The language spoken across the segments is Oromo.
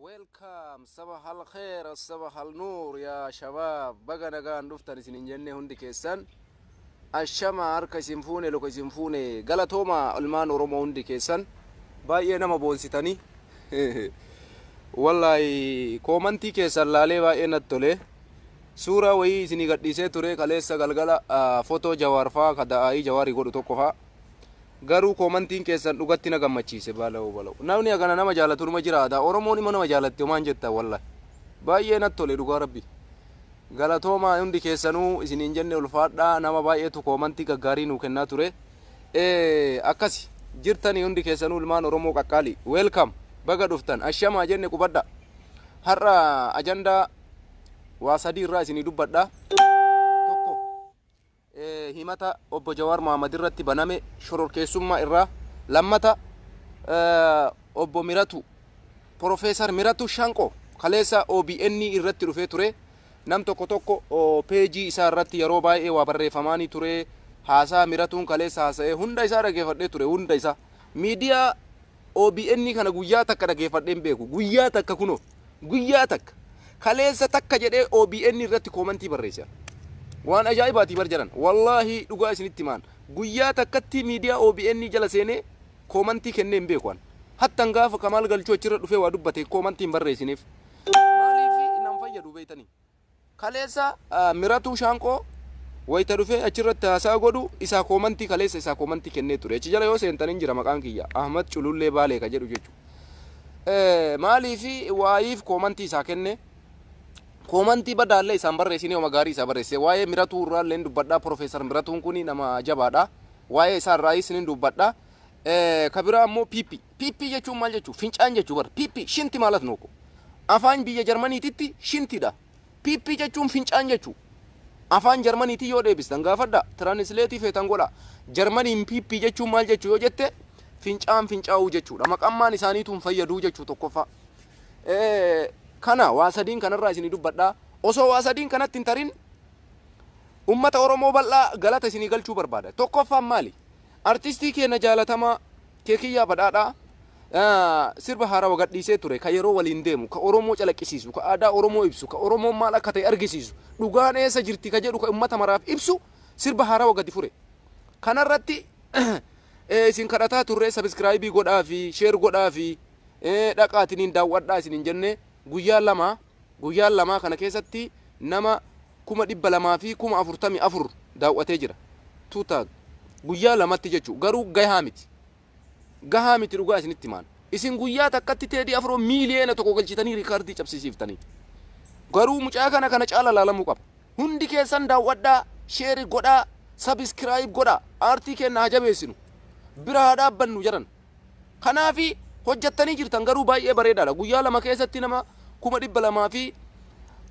Welcome sabah al khair sabah al nur ya shabab baga nagaan dhuftan isin hin jenne hundi keessan ashama harka isin fuune luka isin fuune galatooma ilmaan oromoo hundi keessan baay'ee nama boonsitanii wallahi koomantii keessan laalee baay'ee natti tole suuraa wayii isinii gadhiisee ture kaleessa galgala ah, fotoo jawaar faa ka da'aayii jawaarii godhu tokko faa Garuu koomantiin keessan dhugatti na gammachiise balawo balawo namni hagana nama jaalatu numa jiraata oromoon immoo nama jaalatti homaa hin jettan wallahi baay'ee natti tole dhugaa rabbi galatoomaa hundi keessanuu isiniin jenne ulfaadhaa nama baay'eetu koomantii gaggaarii nuu kennaa ture akkasi jirtanii hundi keessanuu ilmaan oromoo qaqqaalii weelkam baga dhuftan ashamaa jenne qubadha har'a ajandaa waa sadii irraa isinii dubbadha himata Obbo Jawaar Mohaammed irratti baname shororkeessummaa irraa lammata Obbo Miratu Profeesar Miratu Shanqo kaleessa OBN irratti dhufee ture nam tokko tokko peejii isaa irratti yeroo baay'ee waa barreeffamaanii ture haasaa Miratuun kaleessa haasa'ee hunda isaa dhageeffadhee ture hunda isaa miidiyaa OBN kana guyyaa takka dhageeffadhee hin beeku. Guyyaa takka kunoo. Guyyaa takka. Kaleessa takka jedhee OBN irratti koomantii barreesse an. Waan ajaa'ibaati bar jedhan. Wallaahi dhugaa isinitti himaan. Guyyaa takkatti miidiyaa OBN jala seenee koomantii kennee hin beeku an. Hattan gaafa Kamaal Galchuu achirra dhufee waa dubbate koomantii hin barreessineef. Maaliif nan fayyadu beektanii? Kaleessa Miratuu Shaanqoo wayita dhufee achirratti haasa'a godhu isaa koomantii kaleessa isaa koomantii kennee ture. Achi jala yoo seentan hin jira maqaan kiyya. Ahmad Culullee Baalee ka jedhu jechuudha. Maaliifi waayiif koomantii isaa kenne koomantii badaallee isaan barreessine homa gaarii isaa barreessee waa'ee Miratuu irraallee hin dubbadhaa Profeesar Miratuun kun nama jabaadha. Waa'ee isaa irraayis hin dubbadha. Ka biraa ammoo Piippi. Piippii jechuun maal jechuu? Fincaan jechuu bar. Piippii, shinti maalat nooko. Afaan biyya Jarmaniititti shintidha. Piippii jechuun fincaan jechuu. Afaan Jarmaniitii yoo deebistan gaafadha. Tiranisleetii feetan godha. Jarmaniin piippii jechuun maal jechuu yoo jette fincaan fincaa'uu jechuudha. Maqammaan isaaniitu hin fayyaduu jechuu tokkoffaa. Kana waa sadiin kanarraa isinii dubbadha. Osoo waa sadiin kanatti hin tarin ummata Oromoo bal'aa galata isinii galchuu barbaada. Tokkoffaan maali? Artistii keenna jaalatamaa Keekiyyaa Badhaadhaa sirba haarawa gadhiisee ture, ka yeroo waliin deemu, ka Oromoo calaqqisiisu, ka aadaa Oromoo ibsu, ka Oromoon maal akka ta'e argisiisu, dhugaan eessa jirti ka jedhu ka ummata maraaf ibsu sirba haarawa gadi fure. Kanarratti isin kadhataa turree sabiskiraayibii godhaafii, sheer godhaafii, dhaqaatiniin daaw'adhaa isiniin jennee guyyaa lama Guyyaan lamaa kana keessatti nama 200,000 fi 44,000 daaw'atee jira. 2000. Guyyaa lamatti jechu garuu gahaa miti. Gahaa miti dhugaa isinitti himaan. Isin guyyaa takkatti Teedii Afroo miiliyeena tokko galchitanii riikaardii cabsisiiftanii. Garuu mucaa kana kana caala laalamuu qaba. Hundi keessan daaw'adhaa, sheeri godhaa, sabiskiraayib godhaa, aartii keenna haa jabeessinu. Bira haa dhaabbannu jedhan. Kanaafi hojjattanii jirtan garuu baay'ee bareedaadha. Guyyaa lama keessatti nama kuma dhibba lamaa fi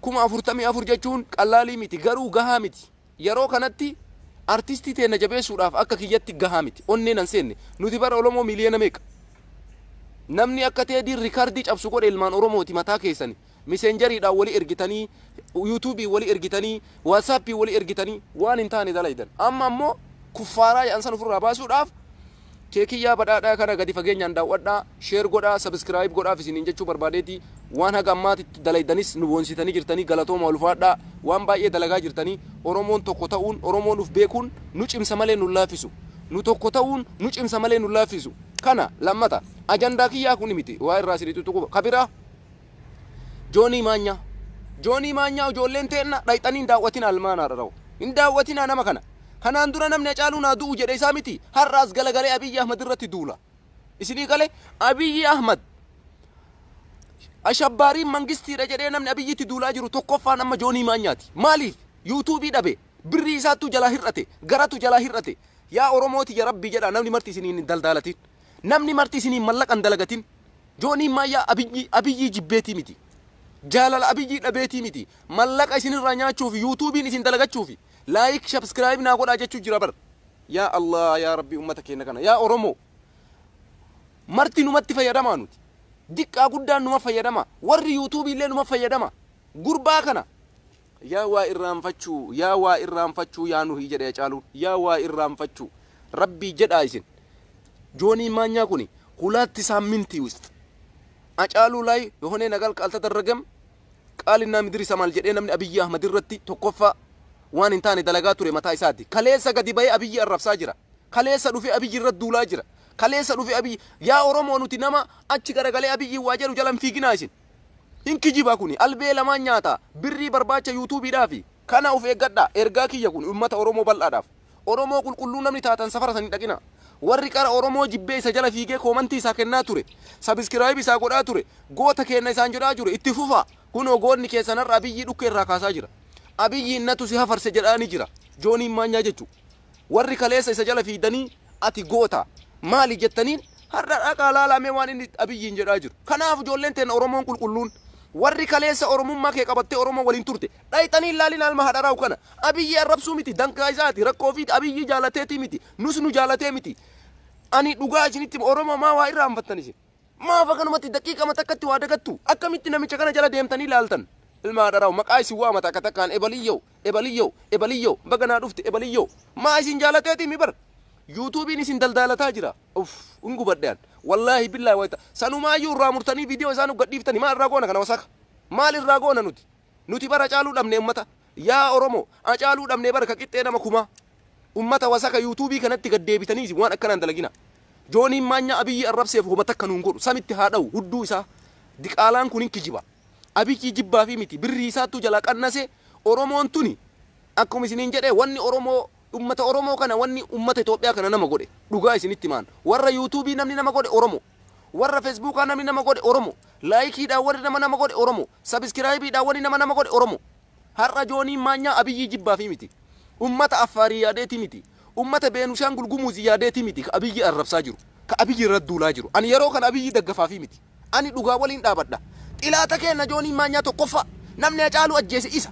kuma afurtamii afur jechuun qallaalii miti garuu gahaa miti. Yeroo kanatti artistii teenna jabeessuudhaaf akka kiyyatti gahaa miti. Onnee nan seenne. Nuti bara Oromoo miliyoona meeqa? Namni akka teediin rikardii cabsu godhe ilmaan Oromooti mataa keessani. Miseenjariidhaan wali ergitanii, Yuutuubiin wali ergitanii, Waatsaappiin wali ergitanii waan hin taane dalaydan. Amma ammoo kuffaaraa jedhan san ofirraa baasuudhaaf Keekiyyaa Badhaadhaa kana gadi fageenyaan daaw'adhaa, share godhaa, subscribe godhaaf isiniin jechuu barbaadeeti. Waan haga ammaatitti dalaydanis nu boonsitanii jirtanii galatoomaa ulfaadhaa. Waan baay'ee dalagaa jirtanii. Oromoon tokko ta'uun, Oromoon uf beekuun nu cimsa malee nu hin laaffisu. Nu tokko ta'uun nu cimsa malee nu hin laaffisu. Kana lammata. Ajandaa kiyyaa kuni miti. Waa irraa isinii xuxuquu. Ka biraa. Joonii Maanyaa. Joonii Maanyaa ijoolleen teenna dhayxanii hin daawwatinaa ilmaan haadharoo. Hin daawwatinaa nama kana. Kanaan dura namni Hacaaluun haa du'u jedhe isaa miti har'a as galagalee Abiyyi Ahmad irratti duula. Isinii galee Abiyyi Ahmad ashabbaariin mangistiidha jedhee namni Abiyyitti duulaa jiru tokkoffaan amma Joonii Maanyaati. Maaliif? Yuutuubii dhabe. Birrii isaattuu jalaa hir'ate. Garatu jalaa hir'ate. Yaa Oromooti ya Rabbii jedhaa namni marti isiniin hin daldaalatin. Namni marti isiniin mallaqa hin dalagatin. Jooniin maayyaa Abiyyii Abiyyii jibbeetii miti. Jaalala Abiyyii dhabeetii miti. Mallaqa isin irraa nyaachuufi Youtubiin isin dalagachuufi Like Shabscribe naa godhaa jechuu jira bar. Yaa Allah yaa Rabbii ummata keenna kana yaa Oromoo marti numatti fayyadamaa nuti. Diqqaa guddaan numa fayyadama. Warri Youtube illee numa fayyadama. Gurbaa kana Yaa waa irraanfachuu yaa waa irraanfachuu yaa nuhii jedhe hacaaluun yaa waa irraanfachuu rabbii jedhaa isin joonii maanyaa kuni hulaatti saammintii wist hacaaluu laay yohonee nagal kaaltadarragem qaalinaa midiri samaal jedhee namni abiyyi ahmad irratti tokkoffaa waan hin taane dalagaa ture mataa isaati kaleessa gadi bahee abiyyi arrabsaa jira kaleessa dhufe abiyyi irra duulaa jira kaleessa dhufe abiyyi yaa oromoo nuti nama achi garagalee abiyyi waa jedhu jalan fiiginaa isin Hin kijibaa kuni albee lamaan nyaata birrii barbaacha yuutuubiidhaafi. Kana of eeggadhaa ergaa kiyya kuni ummata oromoo bal'aadhaaf. Oromoo qulqulluu namni taatan safara san hin dhaqinaa. Warri qara oromoo jibbee isa jala fiigee koomantii isaa kennaa ture, sabiskiraayib isaa godhaa ture, goota keenna isaan jedhaa jure itti fufaa. Kunoo goonni keessan har'a Abiyyii dhukkee irraa kaasaa jira. Abiyyiin natu si hafarse jedhaani jira. Jooniin maanyaa jechu. Warri kaleessa isa jala fiigdanii ati goota maali jettaniin har'a dhaqaa laalaa mee waan inni Abiyyiin jedhaa jiru. Kanaaf ijoolleen teenna Oromoon qulqulluun warri kaleessa Oromummaa kee qabattee Oromoo waliin turte dhayxanii hin laalinaa ilma haadha raawu kana. Abiyyii arrabsuu miti dangaa isaati rakkoo ofiiti Abiyyii jaalateetii miti nus nu jaalatee miti. Ani dhugaa isinitti hima Oromoo maa waa irraanfattan isin? Maaf akkanumatti daqiiqama takkatti waa dagattu? Akkamitti namicha kana jala deemtanii laaltan? Ilma haadha raawu maqaa isin waama takka takkaan ebaliyyoo. Ebaliyyoo Ebaliyyoo baga naa dhufte Ebaliyyoo maa isin jaalateetii mi bar yuutuubiin isin daldaalataa jira uff hin gubadhe an wallaahi billaahi wayta sanumaayyuu irraa murtanii viidiyoo isaa nu gadhiiftani maal irraa goona kana wasaka maal irraa goona nuti nuti bara caaluu dhabne ummata yaa oromoo acaaluu dhabne bara ka qixxee nama kumaa ummata wasaka yuutuubii kanatti gad deebitanii isin waan akkanaan dalagina jooniin maanyaa abiyyi arrabseef homa takka nuun godhu samitti haa dha'u hudduu isaa diqaalaan kun hin kijiba abiyyi jibbaa fi miti birrii isaattuu jalaa qannasee Oromoon tuni akkuma isiniin jedhee wanni Oromoo ummata Oromoo kana wanni ummata Itoophiyaa kana nama godhe dhugaa isinitti himaan warra YouTube namni nama godhe Oromoo warra Fesbuukaa namni nama godhe Oromoo laayikiidhaan warri nama nama godhe Oromoo sabiskiraayibiidhaan wanni nama nama godhe Oromoo har'a Jooniin Maanyaa Abiyyii jibbaafii miti ummata Affaarii yaadeetii miti Ummata Beenushaangul Gumuz yaadeeti miti ka Abiyyi arrabsaa jiru, ka Abiyyi irra duulaa jiru. Ani yeroo kana Abiyyi daggafaafii miti. Ani dhugaa waliin dhaabadha. Xilaata keenna Joonii Maanyaa tokkoffaa namni Hacaaluu ajjeese isa.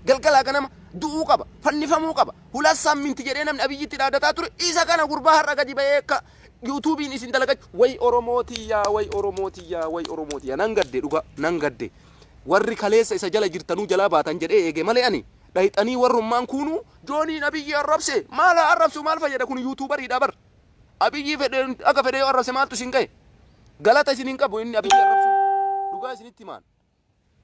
Galgalaa ganama du'uu qaba, fannifamuu qaba, hulat saamminti jedhee namni Abiyyitti dhaadataa ture isa kana gurbaa har'a gadi ba'ee ka Yuutuubiin isin dalagachu. Way Oromoo tiyyaa, way Oromoo tiyyaa, way Oromoo tiyyaa. Nan gadde dhugaa, nan gadde. Warri kaleessa isa jala jirtanuu jalaa baatan jedhee eege malee ani. Dhayxanii warrummaan kuunuu Jooniin Abiyyii arrabse maal haa arrabsu maal fayyada kun yuutuubariidha bar Abiyyii fedhe akka fedhe yoo arrabse maaltu isin gahe galata isin hin qabu inni Abiyyii arrabsuun dhugaa isinitti himaan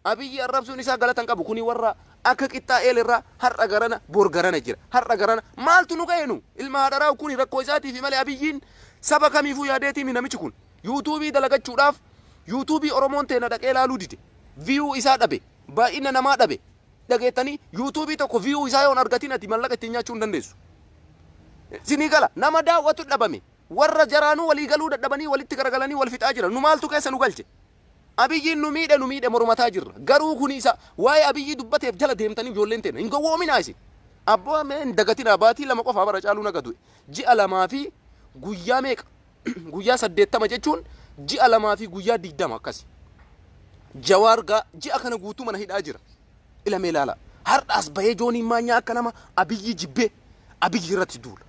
Abiyyii arrabsuun isaa galata hin qabu kuni warra akka qixxaa eelirraa har'a garana bor garana jira har'a garana maaltu nu gahe nu ilma haadharaa kuni rakkoo isaatiifi malee Abiyyiin saba kamiifuu yaadeetiimi namichi kun yuutuubii dalagachuudhaaf yuutuubii Oromoon teena dhaqee laaluu dide viyuu isaa dhabe baay'ina namaa dhabe dhageettanii yuutuubii tokko viyuu isaa yoon argatiin ati mallaqa ittiin nyaachuu hin dandeessu. Sinii gala nama daawwatu dhabame warra jaraanuu walii galuu dadhabanii walitti garagalanii wal fixaa jira nu maaltu keessa nu galche. Abiyyiin nu miidhe nu miidhe mormataa jirra garuu kuni isa waa'ee abiyyii dubbateef jala deemtanii ijoolleen teena hin gowwoominaa isin. Abboo mee hin dagatinaa baatii lama qofaa bara caaluu naga du'e ji'a lamaa fi guyyaa meeqa guyyaa saddeettama jechuun ji'a lamaa fi guyyaa digdama akkasi. Jawaar gaa ji'a kana guutuu mana hidhaa jira. Ilamee ilaalaa. Har'aas bahee jooniin maanyaa akka nama abiyyii jibbee abiyyii irratti duula.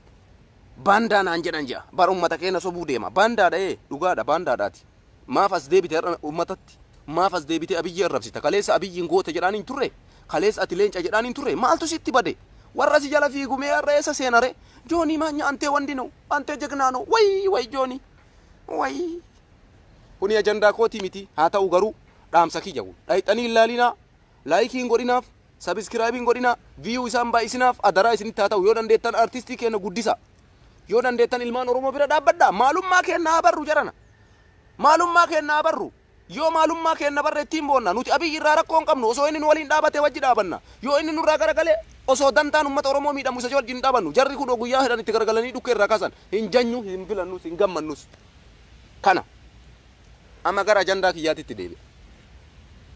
Baandaa naan jedhan ja'a. Bara uummata keenya sobuu deema. Baandaadha ee dhugaadha baandaadhaati. Maaf as deebite har'a uummatatti? Maaf as deebite abiyyii arrabsita? Kaleessa abiyyiin goota jedhaan hin turre? Kaleessa ati leenca jedhaan hin turre? Maaltu sitti bade? Warra si jala fiigumee har'a eessa seenare? Joonii maanyaa antee wandi na'u. Antee jegnaa noo way way joonii way. Kuni ajandaa kooti miti haa ta'u garuu dhaamsa kiyya kun dhayxanii hin laalinaa laayikii hin godhinaaf sabiskiraayibii hin godhinaa viyuu isaan baay'isinaaf adaraa isinitti haa ta'u yoo dandeettan artistii keenya guddisa yoo dandeettan ilmaan oromoo bira dhaabbadha maalummaa keenya haa barru jarana maalummaa keenya haa barru. Yoo maalummaa keenna barre ittiin boonna. Nuti Abiy irraa rakkoo hin qabnu. Osoo inni nu waliin dhaabate wajji dhaabanna. Yoo inni nurraa garagale osoo dandaan ummata Oromoo miidhamu isa wajji hin dhaabannu. Jarri kunoo guyyaa fedhan itti garagalanii dhukkee irraa kaasan. Hin janyu, hin filannus, hin gammannus. Kana. Amma gara ajandaa kiyyaatitti deebi'a.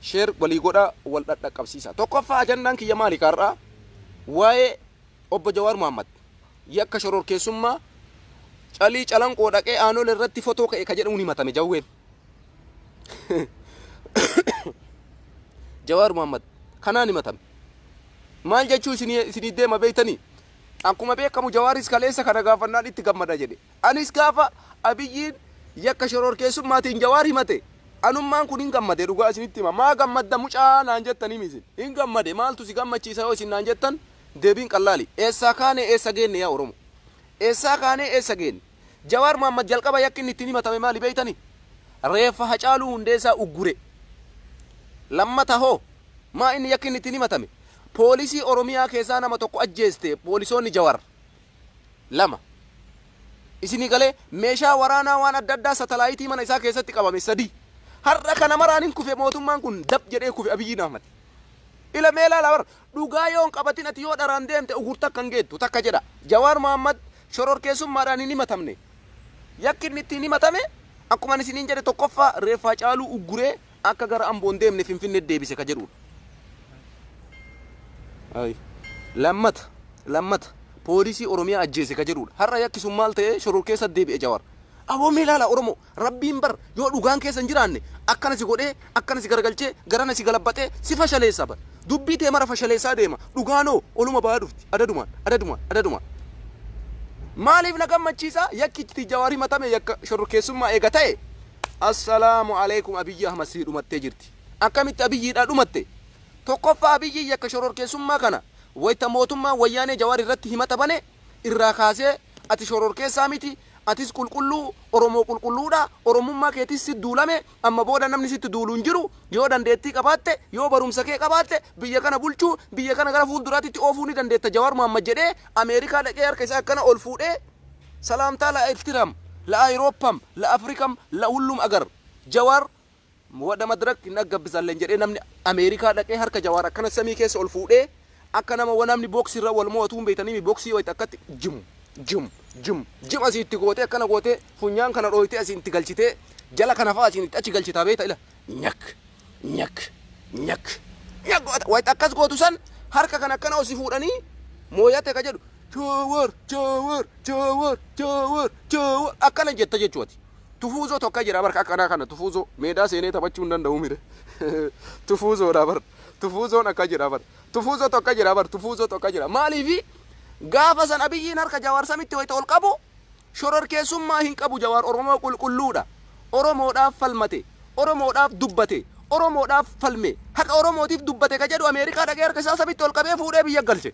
Share walii godhaa, wal dhadhaqqabsiisaa. Tokkoffaa ajandaan kiyya maali ka har'aa? Waa'ee Obbo Jawaar Muhammad yakka shororkeessummaa calii calanqoo dhaqee aanolee irratti fotoo ka'e ka jedhuun himatame Jawween. jawaar muhammad kanaan himatame maal jechuu isinii isinii deema beektanii akkuma beekamu jawaaris kaleessa kana gaafannaan itti gammada jedhe anis gaafa abiyyiin yakka shororkeessummaatiin jawaar himate anummaan kun hin gammade dhugaa isinitti hima maa gammadda mucaa naan jettanii misin hin gammade maaltu si gammachiisa yoo isin naan jettan deebiin qallaali eessaa kaane eessa geenne yaa oromo eessaa kaane eessa geenne Jawaar Mohammad jalqaba yakki inni ittiin himatame maali beektani? Reeffa Hacaaluu Hundeessaa uggure. Lammata hoo? Maa inni yakki inni ittiin himatame? Poolisii Oromiyaa keessaa nama tokko ajjeeste poolisoonni Jawar. Lama. Isinii galee meeshaa waraanaa waan adda addaa satalaayitii mana isaa keessatti qabame sadii. Har'a kana maraan hin kufe mootummaan kun dab jedhee kufe Abiyyiin Ahmad. Ila mee ilaala bar Dhugaa yoo hin qabatin ati yoo dharaan deemte ugur takka hin geettu takka jedha. Jawaar Mohammad shororkeessummaadhaan hin himatamne. Yakki inni ittiin himatame akkuma ani isiniin jedhe tokkoffaa reeffa Hacaaluu ugguree akka gara Amboo hin deemne Finfinneetti deebise ka jedhuudha. Ayi. Lammata lammata poolisii Oromiyaa ajjeese ka jedhuudha. Har'a yakki sun maal ta'ee shororkeessa deebi'e Jawaar. Aboo mee ilaala Oromoo Rabbiin bar yoo dhugaan keessa hin jiraanne akkana si godhee akkana si garagalchee garana si galabbaxee si fashaleessa bar dubbii tee mara fashaleessaa deema dhugaan hoo oluma bahaa dhufti adadumaan adadumaan adadumaan Maaliif na gammachiisa yakki iccitii Jawaar himatame yakka shororkeessummaa eega ta'e Assalaamu alaikum Abiyyi Ahmad sii dhumattee jirti akkamitti Abiyyiidhaa dhumatte tokkoffaa Abiyyi yakka shororkeessummaa kana wayta mootummaan wayyaanee Jawaar irratti himata bane irraa kaasee ati shororkeessaa miti Atis qulqulluu, Oromoo qulqulluu dha, Oromummaa keetiis sitt duulame, amma booda namni sitt duulu hin jiru, yoo dandeettii qabaatte, yoo barumsa kee qabaatte, biyya kana bulchuu, biyya kana gara fuulduraatitti oofuu ni dandeetta Jawaar Mohammed jedhee Ameerikaa dhaqee harka isaa akkana ol fuudhee salaamtaa la Ertiram, la Ayroppam, la Afrikam, la hullum agar. Jawaar. Wada madirak hin aggabbisalen jedhee namni America dhaqee harka Jawaar akkana samii keessa ol fuudhee akka nama wa namni box irra wal mo'atuu hin beektanimi boxii wayta akkatti jim jim jim jim asii itti gootee akkana gootee funyaan kana dhooytee asii itti galchitee jala kana fa'aa asiin itti achi galchitaa beekta ila nyak nyak nyak nyak goota wayta akkas gootu san harka kana akkana osi fuudhanii mooyate ka jedhu Jawaar Jawaar Jawaar Jawaar Jawaar akkana jetta jechuuti. Tufuuzoo tokko jira bar akkanaa kana tufuuzoo meedaa seenee taphachuu hin danda'u mire tufuuzoodha bar tufuuzoon akka jira bar tufuuzoo tokko jira bar tufuuzoo tokko jira maaliifi gaafa san abiyyiin harka jawaar samitti wayita ol qabu shororkeessummaa hin qabu jawaar oromoo qulqulluudha oromoodhaaf falmate oromoodhaaf dubbate oromoodhaaf falme haqa oromootiif dubbate ka jedhu ameerikaa dhaqee harka isaa samitti ol qabee fuudhee biyya galche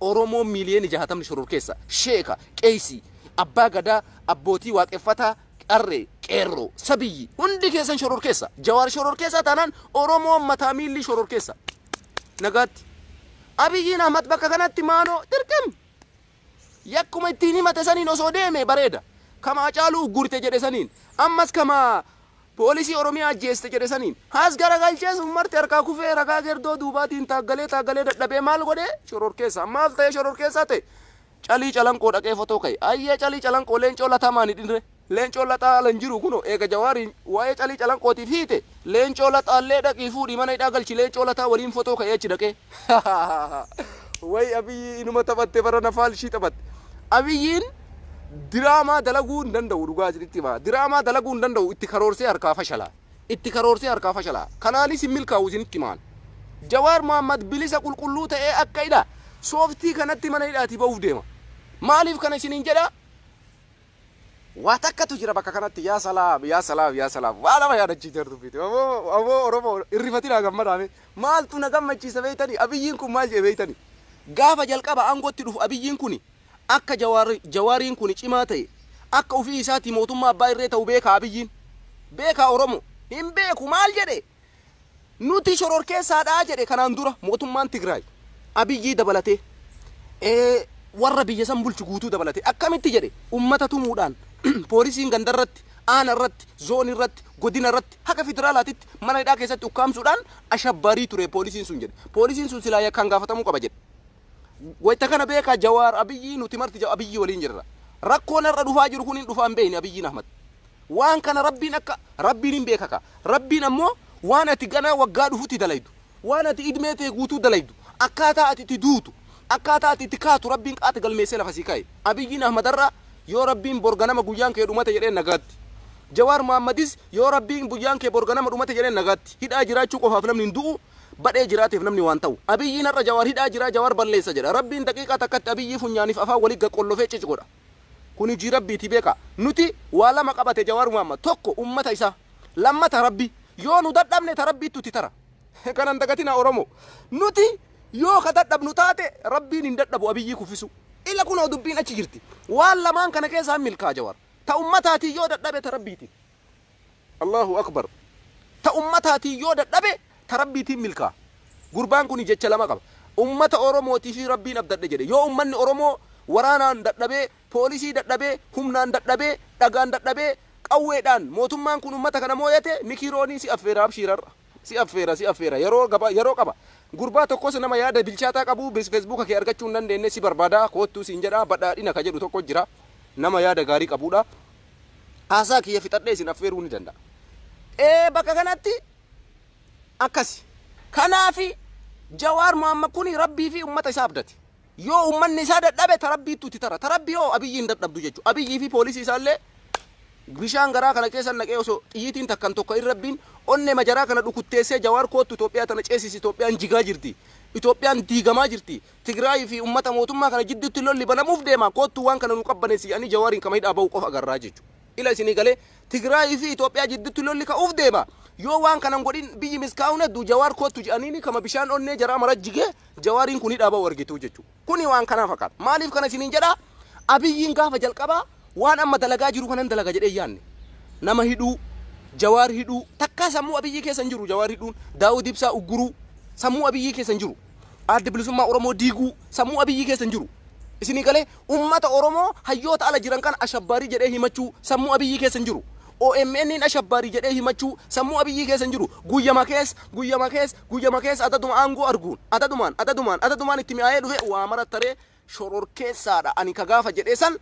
Oromoon miiliyoonni jaatamni shororkeessaa, sheeka, qeeysii, abbaa gadaa, abbootii waaqeffataa, qarree, qeerroo, sabiyyi, hundi keessan shororkeessa. Jawaar shororkeessaa taanaan Oromoon mataa miilli shororkeessa. Nagaatti. Abiyyiin Ahmad bakka kanatti maaloo dirqim! Yakkuma ittiin himate saniin osoo deeme bareeda. Kama Hacaaluu uggurite jedhe saniin. Ammas kama poolisii Oromiyaa ajjeeste jedhe saniin has garagalchees ummarti harkaa kufee ragaa gerdoo duubaatiin taaggalee taaggalee dadhabee maal godhe shororkeessaa maaf ta'ee shororkeessaa ta'e Calii Calanqoo dhaqee fotoo ka'e ayyee Calii Calanqoo Leencoo Lataa maan hidhinre Leencoon Lataa ala hin jiru kunoo eega Jawaariin waa'ee Calii Calanqootiif hiite Leencoo Lataallee dhaqii fuudhii mana hidhaa galchi Leencoo Lataa waliin fotoo ka'ee achi dhaqee. Way Abiyyi inuma taphatte barana faalshii taphatte. Abiyyiin diraamaa dalaguu hin danda'u dhugaa isinitti hima. Diraamaa dalaguu hin danda'u itti karoorsee harkaa fashala. Itti karoorsee harkaa fashala. Kanaanis hin milkaa'u isinitti himaan. Jawaar Mohaammed bilisa qulqulluu ta'ee akka hidha sooftii kanatti mana hidhaatii ba'uuf deema. Maaliif kana isiniin jedha? Waa takkatu jira bakka kanatti yaa salaam yaa salaam yaa salaam waa nama yaadachiifte hordoffiiti aboo aboo oromoo irrifatinaa gammadaa mee maaltu na gammachiisa beeytani abiyyiin kun maal jedhe beeytani gaafa jalqaba aangootti dhufu abiyyiin kuni akka jawaar jawaariin kuni cimaa ta'e akka ofii isaatii mootummaa abbaa irree ta'u beekaa abiyyiin beekaa oromoo hin beeku maal jedhe Nuti shororkeessaadha jedhe kanaan dura mootummaan Tigraay. Abiyyii dabalatee warra biyya san bulchu guutuu dabalatee akkamitti jedhe ummata tumuudhaan poolisiin ganda irratti aana irratti zoon irratti godina irratti haga federaalaatitti mana hidhaa keessatti ukkaamsuudhaan ashabbaarii ture poolisiin sun jedhe poolisiin sun silaa yakkaan gaafatamuu qaba jedhe Wayta kana beekaa Jawaar, Abiyyii nuti marti Abiyyii waliin jirra. Rakkoon har'a dhufaa jiru kun hin dhufa hin beeyne Abiyyiin Ahmad. Waan kana Rabbiin akka Rabbiin hin beeka kaa. Rabbiin ammoo waan ati ganaa waggaa dhufutti dalaydu, waan ati idmee tee guutuu dalaydu, akkaataa ati itti duutu, akkaataa ati itti kaatu Rabbiin qaata galmeessee lafa sii kaaye. Abiyyiin Ahmad har'a yoo Rabbiin bor ganama guyyaan kee dhumate jedheen nagaatti. Jawaar Mohaammadis yoo Rabbiin guyyaan kee bor ganama dhumate jedheen nagaatti. Hidhaa jiraachuu qofaaf namni hin du'uu. badhee jiraateef namni waan ta'u. Abiyyiin har'a Jawaar hidhaa jira, Jawaar balleessa jedha. Rabbiin daqiiqaa takkatti Abiyyii funyaaniif afaan wali gaqqollofee cic godha. Kuni hujii Rabbiiti beekaa. Nuti waa lama qabate Jawaar Muhammad. Tokko ummata isaa. Lammata Rabbi. Yoo nu dadhabne ta Rabbiittu itti tara. Kana hin dagatinaa Oromoo. Nuti yoo ka dadhabnu taate Rabbiin hin dadhabu Abiyyii kuffisuu. Ila kunoo dubbiin achi jirti. Waan lamaan kana keessaa hin milkaa'a Jawaar. Ta ummataatiin yoo dadhabe ta Rabbiitiin. Allahu Akbar Ta ummataatiin yoo dadhabe ta Rabbiitiin milkaa'a. Gurbaan kuni jecha lama qaba. Ummata Oromootiifi Rabbiin abdadhe jedhe. Yoo ummanni Oromoo waraanaan dadhabee, poolisii dadhabee, humnaan dadhabee, dhagaan dadhabee, qawweedhaan mootummaan kun ummata kana mooyate Mikii Roonii si affeera abshiir har'a. Si affeera si affeera yeroo gaba yeroo qaba. Gurbaa tokkos nama yaada bilchaataa qabu bes feesbuuka kee argachuu hin dandeenne si barbaada koottuu siin jedha badhaadhina ka jedhu tokko jira nama yaada gaarii qabuudha. Haasaa kiyya fixadhee isin affeeruu ni danda'a. Ee bakka kanatti akkasi. Kanaafi Jawaar Mohaammed kuni Rabbii fi ummata isaa abdate. Yoo ummanni isaa dadhabe ta Rabbiittu itti tara. Ta Rabbii hoo Abiyyi hin dadhabdu jechuudha. Abiyyii fi poolisii isaallee bishaan garaa kana keessa naqee osoo xiyyiitiin takkan tokko hin rabbiin onnee majaraa kana dhukutteessee Jawaar koottu Itoophiyaa tana ceesisi Itoophiyaan jigaa jirti. Itoophiyaan diigamaa jirti. Tigraayii fi ummata mootummaa kana jidduutti lolli banamuuf deema, koottuu waan kana nuu qabbaneessi jedhanii Jawaariin kama hidhaa bahu qofa agarra jechu. Ila isinii galee? Tigraayii fi Itoophiyaa jidduutti lolli ka'uuf deema. Yoo waan kana hin godhin biyyi miskaa hun heddu Jawaar koottu jedhaniini kama bishaan onnee jaraa mara jigee Jawaariin kun hidhaa bahu argitu jechu. Kuni waan kanaa fakkaata. Maaliif kana isiniin jedhaa? Abiyyiin gaafa jalqabaa waan amma dalagaa jiru kanan dalaga jedhee hin yaanne. Nama hidhuu, Jawaar hidhuu, takkaa sammuu Abiyyii keessa hin jiru Jawaar hidhuun, Daawud Ibsaa ugguruu sammuu Abiyyii keessa hin jiru. Adda Bilisummaa Oromoo diiguu sammuu Abiyyii keessa hin jiru. Isinii galee? Ummata Oromoo hayyoota ala jiran kana ashabbaarii jedhee himachuu sammuu Abiyyii keessa hin jiru. OMNn ashabbaarii jedhee himachuu sammuu Abiyyii keessa hin jiru. Guyyama keessa, guyyama keessa, guyyama keessa adaduma aangoo arguun, adadumaan, adadumaan, adadumaan itti mi'aayee dhufe waa mara taree, shororkeessaa dha ani ka gaafa jedhee san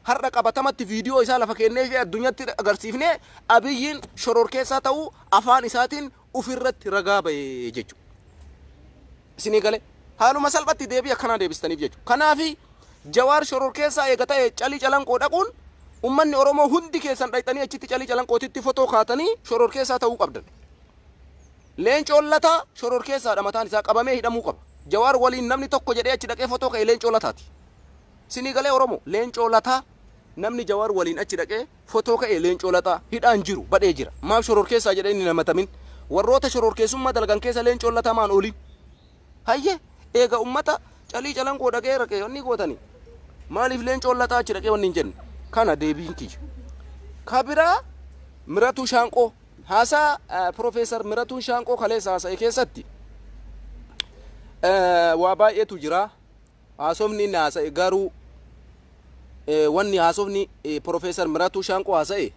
har'a qabatamatti viidiyoo isaa lafa keennee fi addunyatti agarsiifnee abiyyiin shororkeessaa ta'uu afaan isaatiin ufirratti ragaa ba'e jechuudha. Isinii galee haaluma salphatti deebii akkanaa deebistaniif jechuudha. Kanaafi jawaar shororkeessaa eega ta'e calii calanqoo dhaquun ummanni Oromoo hundi keessan dhaqxanii achitti calii calanqootitti fotoo kaatanii shororkeessaa ta'uu qabdan. Leencoon Lataa shororkeessaadha mataan isaa qabamee hidhamuu qaba. Jawaar waliin namni tokko jedhee achi dhaqee fotoo ka'e Leencoo Lataati. Sinii galee Oromoo? Leencoo Lataa namni Jawaar waliin achi dhaqee fotoo ka'e Leencoo Lataa hidhaan jiru badhee jira. Maaf shororkeessaa jedhee hin himatamin? Warroota shororkeessummaa dalagan keessa Leencoon Lataa maan oolin? Hayyee eega ummata calii calanqoo dhaqee raqee wanni gootani maaliif Leencoon Lataa achi dhaqee wanni hin jenne? Kana deebiin kiyya. Ka biraa Miratuu Shaanqoo. Haasaa Pirofeesar Miratuun Shaanqoo kaleessa haasa'e keessatti waa baay'eetu jira. Haasofni inni haasa'e garuu wanni haasofni Pirofeesar Miratuu Shaanqoo haasa'e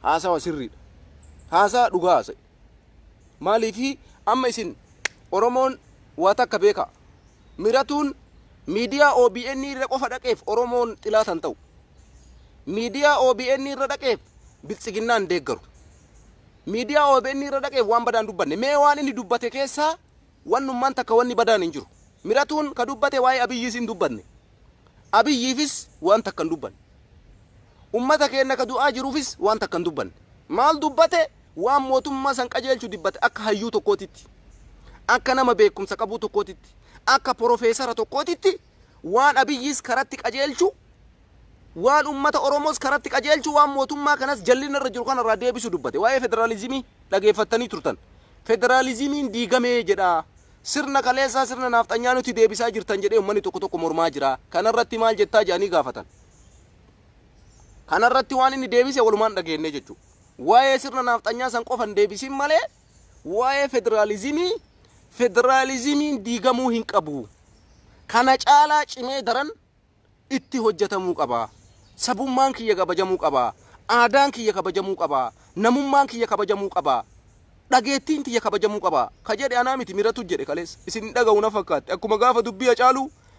haasawa sirriidha. Haasaa dhugaa haasa'e. Maaliif amma isin Oromoon waa takka beekaa. Miratuun miidiyaa OBN irra qofa dhaqeef Oromoon xilaata hin ta'u. miidiyaa OBN irra dhaqeef biltsiginnaan deeggaru. Miidiyaa OBN irra dhaqeef waan badaan dubbanne. Mee waan inni dubbate keessaa wannummaan takka wanni badaan hin jiru. Miratuun ka dubbate waa'ee Abiyyiis hin dubbanne. Abiyyiifis waan takka hin dubbanne. Ummata keenya ka du'aa jiruufis waan takka hin dubbanne. Maal dubbate? Waan mootummaa san qajeelchu dubbate akka hayyuu tokkootitti. Akka nama beekumsa qabuu tokkootitti. Akka porofeesara tokkootitti Waan Abiyyiis karatti qajeelchu, waan ummata Oromoos karatti qajeelchu, waan mootummaa kanas jallinna irra jiru kana irraa deebisu dubbate. Waa'ee federaalizimii dhageeffattanii turtan. Federaalizimiin diigame jedha. Sirna kaleessaa sirna naafxanyaa nutti deebisaa jirtan jedhee ummanni tokko tokko mormaa jira. Kana irratti maal jettaa jedhanii gaafatan. Kana irratti waan inni deebise walumaan dhageenne jechuudha. Waa'ee sirna naafxanyaa san qofa hin deebisin malee Waa'ee federaalizimii, Federaalizimiin diigamuu hin qabu. Kana caalaa cimee daran itti hojjetamuu qaba. Sabummaan kiyya kabajamuu qaba. Aadaan kiyya kabajamuu qaba. Namummaan kiyya kabajamuu qaba. Dhageettiin tiyya kabajamuu qaba. Ka jedhe anaa miti miratu jedhe kaleessa. Isin hin dhagahu na fakkaatti. Akkuma gaafa dubbii Hacaaluu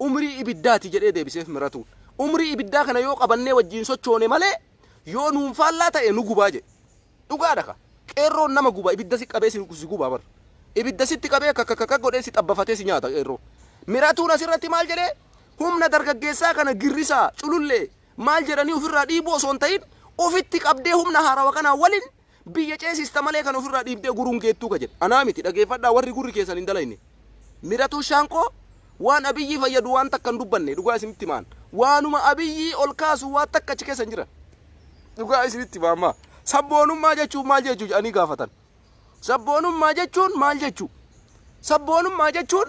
Umrii ibiddaati jedhee deebiseef Miratuun. Umrii ibiddaa kana yoo qabannee wajjiin sochoone malee yoo nuun faallaa ta'e nu gubaa jedhe. Dhugaadha ka. Qeerroon nama guba ibidda si qabee si si guba bar. Ibidda sitti qabee kakakaka godhee si xabbafatee si nyaata qeerroo. Miratuun asirratti maal jedhee humna dargaggeessaa kana girrisaa, culullee, maal jedhanii ofirraa dhiibuu osoo hin ta'in ofitti qabdee humna haarawa kanaa walin Biyya ceesista malee kan ofirraa dhiibdee guruun geettuu ka jedhe anaa miti dhageefadhaa warri gurri keessan hin dalayne. Miratuu Shaankoo waan Abiyyii fayyadu waan takka hin dubbanne dhugaa isinitti hima an. Waanuma Abiyyii ol kaasu waa takka achi keessa hin jiran. Dhugaa isinitti hima amma. Sabboonummaa jechuun maal jechuu jedhanii gaafatan. Sabboonummaa jechuun maal jechuu? Sabboonummaa jechuun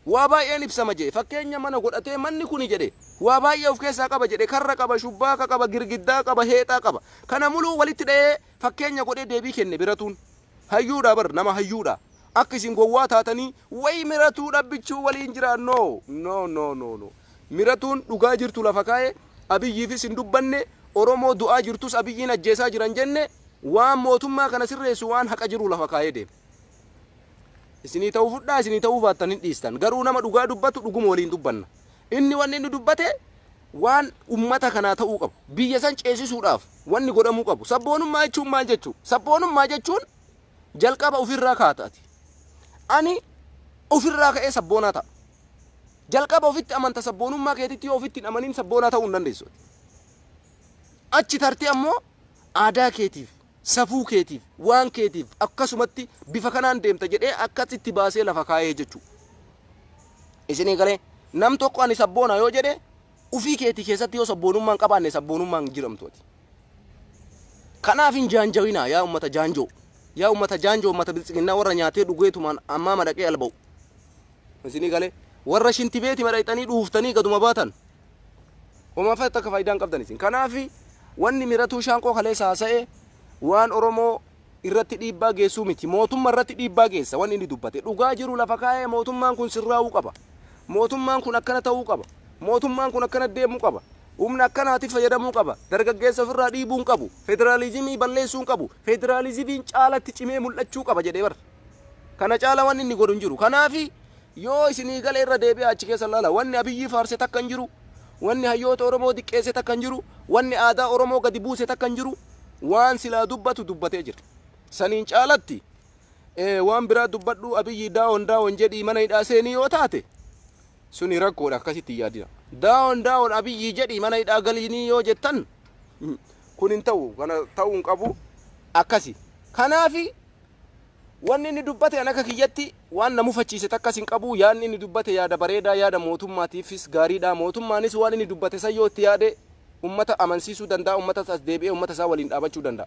waa baay'een ibsama jedhe fakkeenya mana godhatee manni kuni jedhe waa baay'ee of keessaa qaba jedhe karra qaba shubbaa ka qaba girgiddaa qaba heexaa qaba Kana muluu walitti dhahee fakkeenya godhee deebii kenne Biratuun. Hayyuudha bar nama hayyuudha. Akka isin gowwaa taatanii way Miratuu dhabbichuu waliin jiraa no no no no no Miratuun dhugaa jirtu lafa kaa'e Abiyyiifis hin dubbanne Oromoo du'aa jirtus Abiyyiin ajjeesaa jira hin jenne waan mootummaa kana sirreessu waan haqa jiru lafa kaa'ee deema. Isinii ta'uu fudhaa isinii ta'uu baattan hin dhiistan garuu nama dhugaa dubbatu dhuguma waliin dubbanna. Inni wanni inni dubbate waan ummata kanaa ta'uu qabu, biyya san ceesisuudhaaf wanni godhamuu qabu. Sabboonummaa jechuun maal jechuu? Sabboonummaa jechuun jalqaba ufirraa kaata ati. Ani ufirraa ka'ee sabboonaa ta'a. Jalqaba ofitti amanta sabboonummaa keetitti yoo ofitti hin amanin sabboonaa ta'uu hin dandeessu ati. Achi tartee ammoo aadaa keetiif Safuu keetiif, waan keetiif akkasumatti bifa kanaan deemta jedhee akkas itti baasee lafa kaayee jechuu. Isinii galee nam tokko ani sabboona yoo jedhe ufii keetii keessatti yoo sabboonummaa hin qabaanne sabboonummaa hin jiramtu ati. Kanaaf hin jaanjawinaa yaa ummata jaanjoo. Yaa ummata jaanjoo ummata biltsiginnaa warra nyaatee dhugeetumaan ammaa madaqee alba'u. Isinii galee warra shinti beeti madhayxanii dhuuftanii gaduma baatan Umaafatti akka faayidaa hin qabdan isin. Kanaafi wanni Miratuu Shaanqoo kaleessa haasa'e waan Oromoo irratti dhiibbaa geessuu miti. Mootummaa irratti dhiibbaa geessa wanni inni dubbate. Dhugaa jiru lafa kaa'ee mootummaan kun sirraa'uu qaba. Mootummaan kun akkana ta'uu qaba. Mootummaan kun akkana deemuu qaba. Humna akkanaati fayyadamuu qaba. Dargaggeessa ofirraa dhiibuu hin qabu. Federaalizimii balleessuu hin qabu. Federaalizimiin caalatti cimee mul'achuu qaba jedhee bar. Kana caala wanni inni godhu hin jiru. Kanaafi Yoo isinii gale irra deebi'aa achi keessa laala. Wanni Abiyyii faarse takka hin jiru. Wanni hayyoota Oromoo diqqeesse takka hin jiru. Wanni aadaa Oromoo gadi buuse takka hin jiru. Waan silaa dubbatu dubbatee jira. Saniin caalatti waan biraa dubbadhuu Abiyyii daawon daawon jedhii mana hidhaa seenii yoo taate suni rakkoodha akkasitti hin yaadina. Daawon daawon Abiyyii jedhii mana hidhaa galiinii yoo jettan kun hin ta'u kana ta'uu hin qabu akkasi. Kanaafi Wanni inni dubbate an akka kiyyatti waan na mufachiise takkas hin qabu. Yaadni inni dubbate yaada bareedaa, yaada mootummaatiifis gaariidha. Mootummaanis waan inni dubbate san yoo itti yaade ummata amansiisuu danda'a, ummatas as deebi'ee ummata isaa waliin dhaabachuu danda'a.